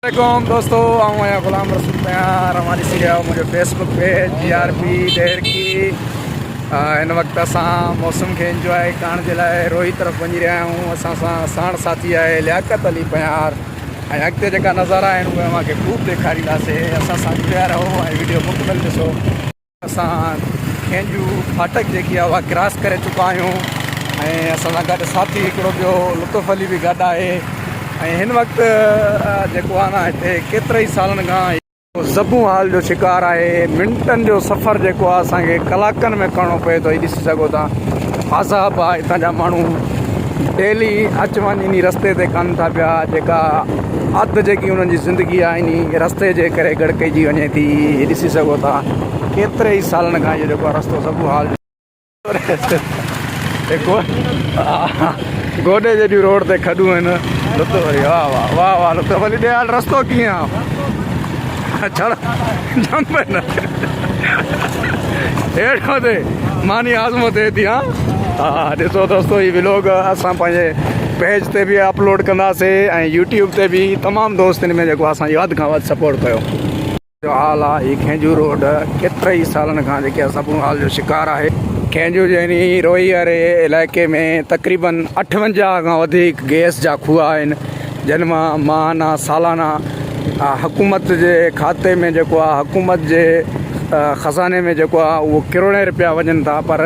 عليڪم دوستو آئون آهيان غلام رسول پيار اوهان ڏسي رهيا آهيو منهنجو Facebook page J R P Daharki هن وقت اسان موسم کي انجواء ڪرڻ جي لاء روهي طرف وڃي رهيا آهيون اسان سان ساڻ ساٿي آهي لياقت علي پيار ۽ اڳتي جيڪا نظارا آهن اهي اوهان کي خوب ڏيکارينداسي اسان سان جڙيا رهو ۽ ويڊيو مڪمل ڏسو اسان کينجو ڦاٽڪ جيڪي آهي اها ڪراس ڪري چڪا آهيون ۽ اسان سان گڏ ساٿي هڪڙو ٻيو لطف علي به گڏ آهي ۽ هن وقت جيڪو آهي نه هتي ڪيترائي سالن کان زبون حال جو شڪار آهي منٽن جو سفر جيڪو آهي اسان کي ڪلاڪن ۾ ڪرڻو پئي ٿو هي ڏسي سگهو ٿا عذاب آهي هتان جا ماڻهو ڊيلي اچ وڃ انهي رستي تي ڪن ٿا پيا جيڪا اڌ جيڪي انهن جي زندگي آهي انهي رستي جي ڪري گڙڪجي وڃي ٿي هي ڏسي سگهو ٿا ڪيتري ئي سالن کان اهو جيڪو آهي رستو سڀو حال جو گوڏي جيڏيون روڊ تي کڏون آهن. ڇڙ جم پئي نه هيٺ مٿي ماني آزمو ٿئي ٿي ها ها ڏسو دوستو هي ولاگ اسان پنهنجي پيج تي به اپلوڊ ڪنداسي ۽ يوٽيوب تي به تمام دوستن ۾ جيڪو اسان جو وڌ کان وڌ سپورٽ ڪيو جو حال آ هي کينجو روڊ ڪيتري ئي سالن کان جيڪي اسان بون حال جو شڪار آهي کينجو جهني روئي واري علائقي ۾ تقريبن اٺونجاهه کان وڌيڪ گئس جا کوهه آهن جن مان ماهانه، سالانه حڪومت جي کاتي ۾ جيڪو آهي حڪومت جي خزاني ۾ جيڪو آهي اهو ڪروڙين رپيا وڃن ٿا پر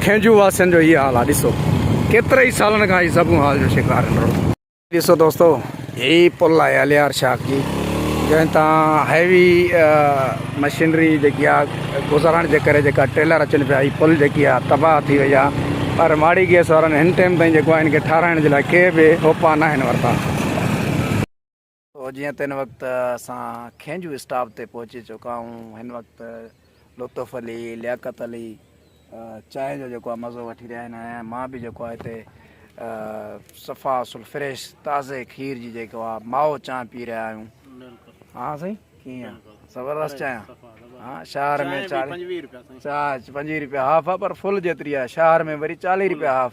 کينجهو واسين جو هي حال آهي ڏسو ڪيتري ئي سالن کان هي سڀ حال جو شڪار آهن رڳو هي ڏسو دوستو هي پل آهي الهيار شاخ جي جنهن تان هيوي مشينري جيڪي آ گذارڻ جي ڪري جيڪا ٽريلر اچن پيا هي پل جيڪي آ تباهه ٿي وئي آ پر ماڙي گئس وارن هن ٽيم تائين جيڪو آ هن کي ٺاهرائڻ جي لاء ڪي به اوپا ناهن ورتا. سو جيئن ته هن وقت اسان کينجو اسٽاپ تي پهچي چڪا آهون هن وقت لطف علي، لياقت علي، چانهه جو جيڪو آ مزو وٺي رهيا آهن ۽ مان به جيڪو آ هتي صفا اصل فريش تازي کير جي جيڪو آ مائو چانهه پي رهيا آهيون ها سائين ڪيئن زبردست چانهه ها شهر ۾ چانهه پنجويهه روپيا هاف آ پر فل جيتري آ شهر ۾ وري چاليهه روپيا هاف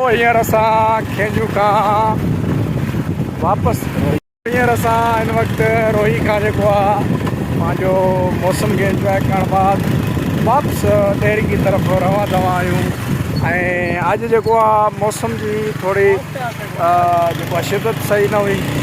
هينئر اسان کينجهو کان واپس هينئر اسان هن وقت روهي کان جيڪو آ پنهنجو موسم کي انجوائي ڪرڻ بعد واپس ڏيري جي طرف روان دوان آهيون ۽ اڄ جيڪو آ موسم جي ٿوري جيڪو آ شدت صحيح نه هئي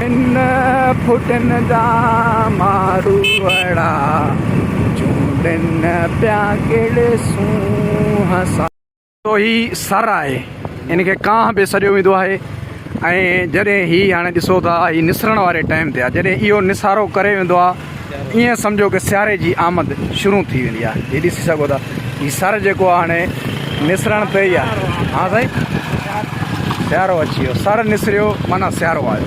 هن ڦٽن جا مارو اڙا، چونڊن پيا ڪهڙي سونهن سان. جو هي سر آهي، هن کي ڪانه به سڏيو ويندو آهي ۽ جڏهن هي هاڻي ڏسو ٿا هي نسرڻ واري ٽائيم تي آهي، جڏهن اهو نسارو ڪري ويندو آهي، ائين سمجهو ڪه سياري جي آمد شروع ٿي ويندي آهي هي ڏسي سگهو ٿا هي سر جيڪو آهي هاڻي نسرڻ تي ئي آهي ها سائين سيارو اچي ويو سر نسريو معنيٰ سيارو آيو.